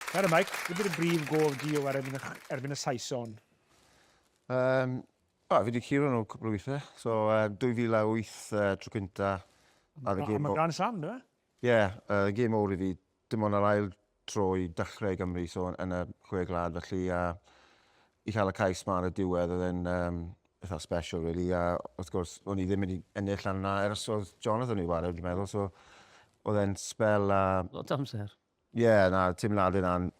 Cau dy meic. Beth yw'r brif gof diw ar erbyn y Saeson? Yym, wel, fi 'di curo nhw cwpl o withe. So, 2008 tro cynta ar y gêm... Am y Grand Slam, yndyw e? Ie, y gêm mowr i fi. Dim ond yr ail tro i dechrau i Gymru, so yn y Chwe Gwlad, felly a i cael y cais 'ma ar y diwedd oedd e'n itha special rili. A wrth gwrs, o'n i ddim wedi ennill arna ers oedd Jonathan wedi chware, dwi'n meddwl, so oedd e'n sbel a... Lot o amser. Ie, na, teimlade 'na'n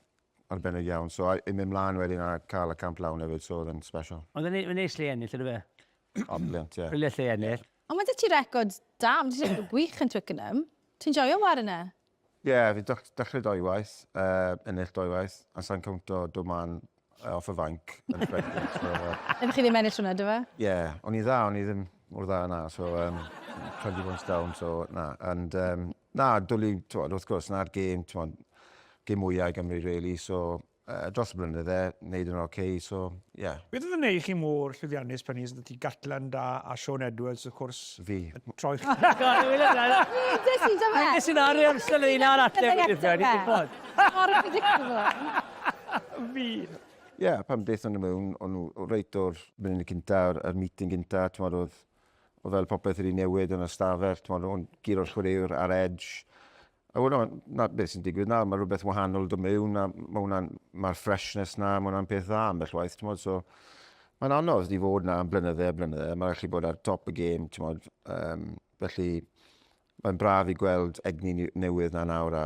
arbennig iawn. So, a- i mynd 'mlan wedyn a cael y camp lawn hefyd, so, oedd e'n special. Ond yn yn neis lle ennill, ydyfe? O, briliant, ie. Briliant lle ennill. Ond mae 'da ti record da, mae 'da ti record gwych yn Twickenham. Ti'n joio war yna? Ie, fi dech- dechrau doi waith, uh, ennill doi waith, a sa'n cwmto dod man uh, off y fainc yn y chweched. So, uh, Neu chi ddim ennill hwnna, dyfa? ie, o'n i dda, o'n i ddim mor dda yna, so, um, 20 points down, so, na. And, um, Na, dwli, t'mod, wrth gwrs, 'na'r gêm, t'mod, gêm mwya' i Gymru rili, so yy dros y blynydde, neud yn ocê, so ie. Beth oedd yn neud chi mor llwyddiannus pan is 'da ti Gatland da a Shaun Edwards wrth cwrs? Fi. Yn troi chi... Dest ti 'da fe? Dest ti 'na ar yr ystod yna a'r ateb yn ddiffyg, ti'n gwbod? Mor unpredictable. Fi. Ie, pan dethon ni mewn, o'n nw reit o'r munud cynta, yr meeting gynta, t'mod, o'dd o fel popeth wedi newid yn y stafell, timod, o'n guro'r chwaraewr ar edge. A wna, na beth sy'n digwydd nawr, mae rhywbeth wahanol dod mewn, a mae hwnna'n, mae'r freshness na, mae hwnna'n peth dda ambell waith, timod, so mae'n anodd i fod na am blynydde a blynydde, mae'n rhaid chi bod ar top y gêm, timod, um, felly mae'n braf i gweld egni newydd na nawr a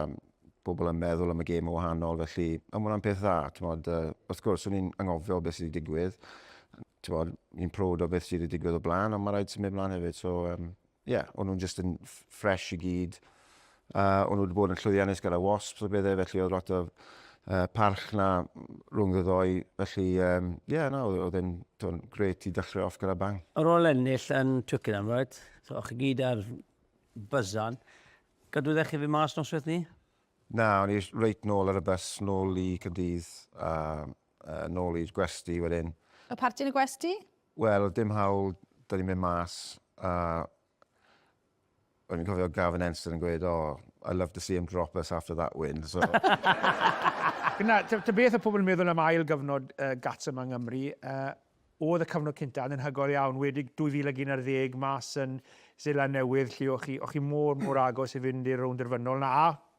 pobl yn meddwl am y gêm o wahanol, felly, a mae hwnna'n peth dda, timod, uh, wrth gwrs, o'n i'n angofio beth sydd wedi digwydd, tibod, ni'n prod o beth sydd wedi digwydd o blaen, ond mae rhaid symud mlaen hefyd. So, um, yeah, o'n nhw'n just yn ffres i gyd. Uh, o'n nhw wedi bod yn llwyddiannus gyda Wasps o bethau, felly oedd lot o uh, parch na rhwng y ddoi. Felly, um, yeah, na, oedd e'n gret i dechrau off gyda bang. Ar ôl ennill yn Twickenham, right? So, o'ch chi gyd ar byzan. Gadwydde chi fi mas noswaith ni? Na, o'n i reit nôl ar y bus, nôl i Cyndydd. Uh, Yy, nôl i'r gwesty wedyn. Y parti yn y gwesty? Wel, oedd dim hawl 'da ni'n mynd mas a o'n i'n cofio Gavin Ensign yn gweud, oh, I love to see him drop us after that win, so... Na, ta, ta beth oedd pobl yn meddwl am ail gyfnod uh, Gats yma yng Nghymru, uh, oedd y cyfnod cynta yn hygol iawn, wedi 2011 mas yn Zeland Newydd, lle o'ch chi, o'ch chi mor, mor agos i fynd i'r rownd derfynol, na,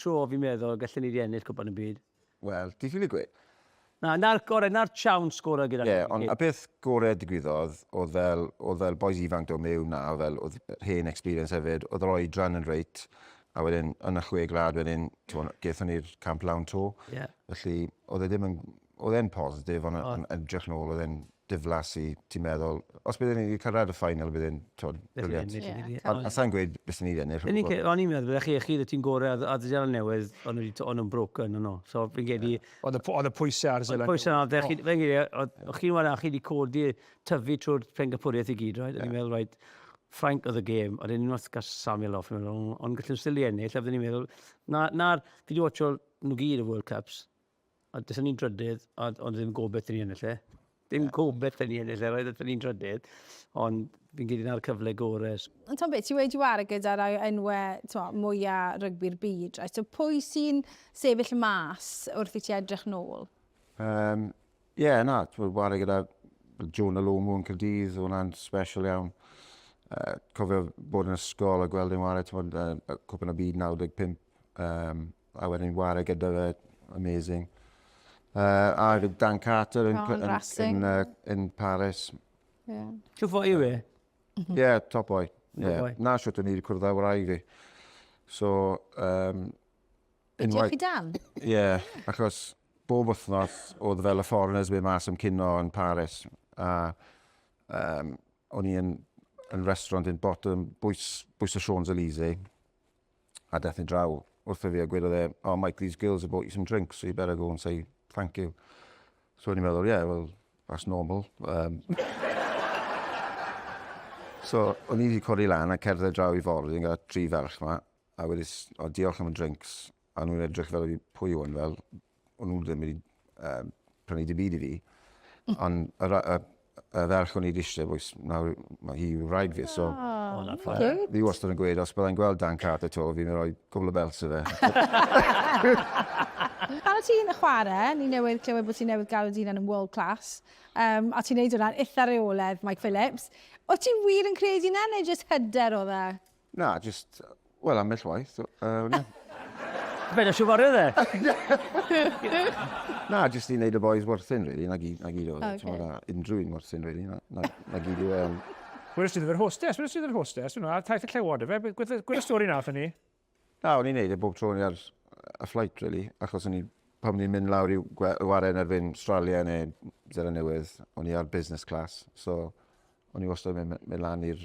Tro fi'n meddwl gallen ni 'di ennill cwpan y byd. Wel, ti ffili gweud. Na, 'na'r gore, 'na'r chance gore gyda Cymru. Ie, ond y peth gore digwyddodd o'dd fel, o'dd fel bois ifanc do' miwn 'na a fel o'dd yr hen experience hefyd, o'dd yr oedran yn reit, a wedyn yn y chwe gwlad wedyn, t'mo' gethon ni'r camp lawn 'to. Ie. Felly, o'dd e ddim yn oedd e'n positif, ond yn edrych yn ôl, oedd e'n diflas i ti'n meddwl, os bydden ni wedi cyrraedd y ffainal, bydden ni'n briliant. A sa'n gweud bys ni ennill. O'n i'n meddwl, bydde chi, chi, ti'n gore a dydi'r ar newydd, o'n nhw'n broken, o'n nhw. So, fi'n gedi... Oedd y pwysau ar Zealand. Oedd y pwysau ar ddech chi, fi'n gedi, oedd chi'n wneud, chi wedi codi, tyfu trwy'r pengapwriaeth i gyd, right? O'n i'n meddwl, right, Frank oedd y gêm, oedd e'n unwaith gael Samuel off, ond gallu nhw sili ennill, a fydden ni'n meddwl, na, na, fi wedi watcho nhw gyd y World Cups, Ond dysyn ni'n drydydd, ond on ddim gobeth yn ni ennill e. Dim yeah. gobeth yn ni ennill e, roedd ydyn ni'n drydydd, ond fi'n gyd i'n cyfle gore. Ond ti'n beth, ti wedi wario gyda rhai enwau mwyaf rygbi'r byd, right? so pwy sy'n sefyll mas wrth i ti edrych nôl? Ie, um, yeah, na, ti wedi wario gyda Jonah Lomu yn Cyrdydd, hwnna'n special iawn. Uh, cofio bod yn ysgol a gweld yn wario, ti'n bod, uh, cwpyn o byd 95, um, A wedyn yn ware gyda fe, amazing. Uh, a hefyd Dan Carter yn, yn, yn, uh, yn Paris. Yeah. Ti'n fwy yw e? Ie, yeah, top boy. Yeah. Na siwt o'n i wedi cwrdd â wraig fi. So, um, Diolch i Dan. Ie, yeah, achos bob wythnos oedd fel y foreigners wedi mas am cino yn Paris. A um, o'n i yn, yn restaurant yn bottom bwys, bwys y Sean's Elysee. A daeth e draw wrtho fi a gwedodd e, oh Mike, these girls have bought you some drinks, so you better go and say thank you. So o'n i'n meddwl, yeah, well, that's normal. Um, so o'n i wedi codi lan a cerdded draw i ffordd yn gael tri ferch yma, a wedys, o diolch am y drinks, a nhw'n edrych fel pwy yw hwn fel, o'n nhw ddim wedi um, prynu dim byd i fi. Mm. Ond y, y, y ferch o'n i eisiau, oes, nawr mae hi yw rhaid fi, so... Oh, oh cute. Fi wastad yn gweud, os byddai'n gweld Dan Carter to, fi'n rhoi gwbl o belt o fe. Pan o ti'n chwarae, ni newydd clywed bod ti'n newydd gael y dyn yn world class, um, a ti'n neud hwnna'n eitha reoledd, Mike Phillips. O ti'n wir yn credu na, neu jyst hyder o dda? Na, jyst, wel, ambell waith. Uh, Mae'n eisiau fory dde? Na, jyst i wneud y boys worthyn, really. Na gyd, na gyd oedd. Okay. Na, unrhyw un worthyn, really. Na, na, na gyd i weld. Gwyrdd sydd efo'r hostess, gwyrdd sydd efo'r hostess, hwnna, taith y llewod, efe. Gwyrdd y stori na, oedd ni. Na, o'n i'n neud e bob tro ni ar y flight, really. Achos o'n i'n pan ni'n mynd lawr i ware yn erbyn Australia neu Zera Newydd, o'n i ar business class, so o'n i wastad yn mynd, mynd lan i'r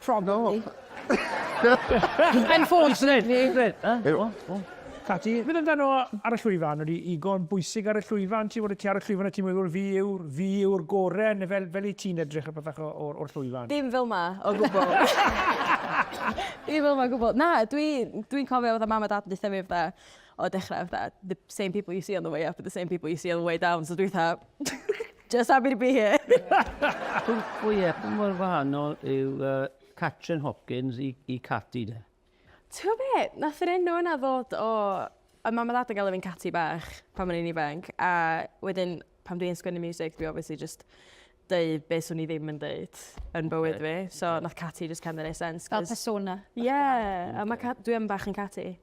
Probably. Unfortunately. Tati, mynd amdano ar y llwyfan, wedi igon bwysig ar y llwyfan, ti'n bod y ti ar y llwyfan a ti'n meddwl fi yw'r, fi yw'r gore, neu fel, fel i ti'n edrych a pethach o, o'r, o'r llwyfan? Dim fel ma, o gwbwl. Dim fel ma o gwbwl. Na, dwi, dwi'n cofio fatha mam a dad yn deutha fi fatha, o dechrau fatha, the same people you see on the way up are the same people you see on the way down, so dwi fatha, just happy to be here. Pwy fwyaf, pwy mor wahanol yw uh, Catrin Hopkins i, i Cati de? Ti'n gwybod beth, nath yr enw yna ddod o... A mam a dad yn gael fi'n Cati bach pan o'n i'n ifanc, a wedyn pan dwi'n sgwennu music, dwi obviously just dweud beth swn i ddim yn dweud yn bywyd fi. So, nath Cati just kind of neud sense. Fel persona. Ie, yeah, a mae dwi am bach yn Cati.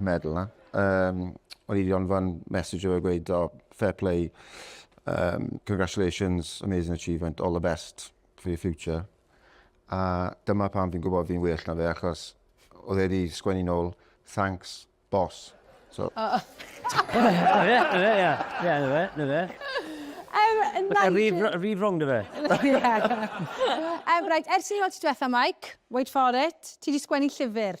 meddwl 'na. Yym o'n i 'di anfon message o fe gweud o fair play um, congratulations amazing achievement all the best for your future a dyma pam fi'n gwybod fi'n well na fe achos oedd e wedi sgwennu nôl thanks boss so oh. na fe na fe ia ia na fe na fe Um, Mae rif, rif wrong dy fe. um, right, ers i ni weld ti diwetha, Mike, wait for it, ti di sgwennu llyfr.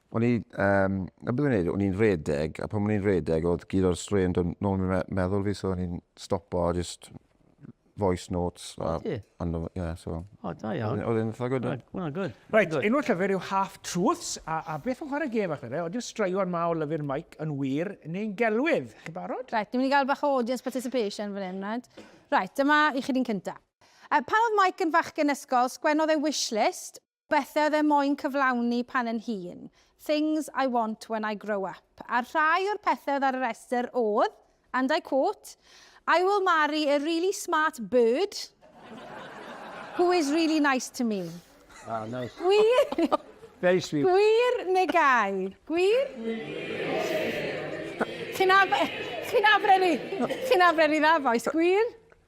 O'n i, um, a beth o'n i'n o'n i'n redeg, a pan o'n i'n redeg, oedd gyd o'r strain dod nôl yn me meddwl fi, so o'n i'n stopo, just voice notes. A, Ie. And, yeah, so. O, da iawn. Oedd e'n eitha good. Wel, good. Right, good. enw'r llyfr yw Half Truths, a, a beth o'n chwarae gêm achos fe, oedd yw'r straeon ma o lyfr Mike yn wir neu'n gelwydd. Chi barod? Right, ni'n mynd i gael bach o audience participation fan hyn, right? Right, dyma i chi di'n cynta. Uh, pan oedd Mike yn fachgen ysgol, sgwennodd e wish list, Bethau oedd e moyn cyflawni pan yn hŷn, things I want when I grow up, a rhai o'r pethau oedd ar y rhestr oedd, and I quote, I will marry a really smart bird who is really nice to me. Ah, nice. Gwir? Very sweet. Gwir neu gau? Gwir? Gwir. Chi'n ab... Chi'n abrenu... Chi'n abrenu dda, boys. Gwir?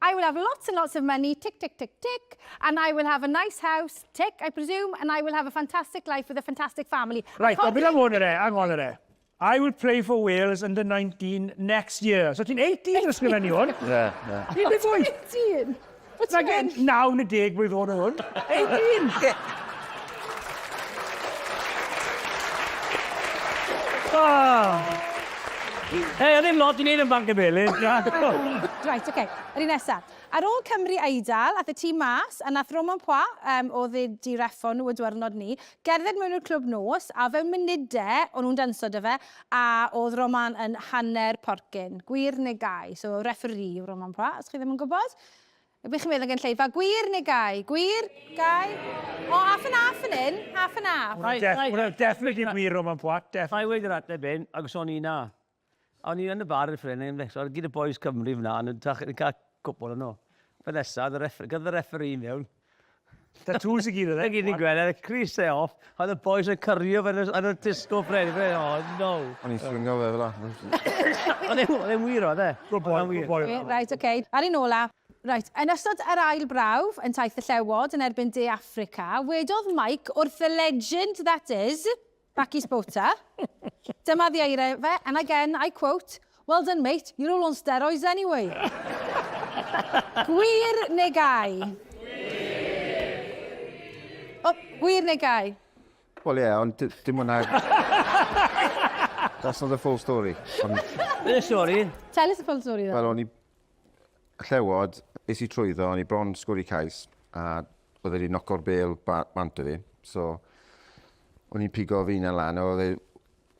I will have lots and lots of money, tick tick tick tick, and I will have a nice house, tick, I presume, and I will have a fantastic life with a fantastic family. Right, o byd am hwn yr e, ang on yr e. I will play for Wales under 19 next year. So ti'n 18 yn ysgrifennu hwn? Ie, ie. Ti'n byd fwy? 18! What's Nag e 90 blwydd o'n hwn? 18! Hei, oedd ddim lot i wneud yn Banc y Felin. Reit, oce. Yr un nesa. Ar ôl Cymru Eidal, ath y tîm mas, a nath Romain Poix, yym, oedd e di reffo nhw y dwyrnod ni, gerdded mewn i'r clwb nos, a fewn munude, o'n nhw'n danso da fe, a oedd Romain yn hanner porcyn. Gwir neu gau? So, referee yw Romain Poix, os chi ddim yn gwybod. Ydych chi'n meddwl gynulleidfa? Gwir neu gau? Gwir? Gau? O, half and half fan hyn. Half and half. Hwnna'n def- hwnna'n definitely gwir, Roman Pwat. Def- Ga i weud yr ateb hyn, agos o'n i 'na. A o'n i yn y bar yn Ffrenig yn Wrecsam, gyd y bois Cymru fan'na, yn hytrach yn cael cwpl yno. Fe nesa, the ref- gyrraedd y referee mewn, Tattoos i gyd oedd e. I gyd ni'n gweld, oedd y Chris e off, oedd y boys yn cyrio fe yn y disco fred. Oh, no. O'n i'n ffringo fe fel la. E- oedd e'n wir oedd e? Good boy, good boy. Right, oce. Ar un ola. Right, yn ystod yr ail brawf yn Taith y Llewod yn erbyn De Affrica, wedodd Mike wrth the legend that is, Bacis Bota. Dyma ddieirau fe, and again I quote, Well done mate, you're all on steroids anyway. Gwir neu gau? O, gwir neu gau? Wel ie, ond di- dim hwnna... That's not the full story. Ond, Be stori? Tell us the full story then. wel, o'n i... Llewod, es i trwyddo, o'n i bron sgwri cais, a oedd wedi noco'r bel ba bant o fi. So, o'n i'n pigo fi na lan, oedd e,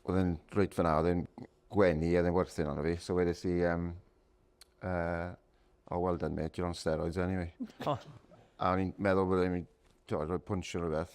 oedd e'n reit fyna, oedd e'n gwenu, oedd e'n werthin ond o fi. So, wedys i, um, uh, oh, well done, mate, you're on steroids anyway. a o'n i'n meddwl bod e'n mynd, rhoi pwns o rhywbeth.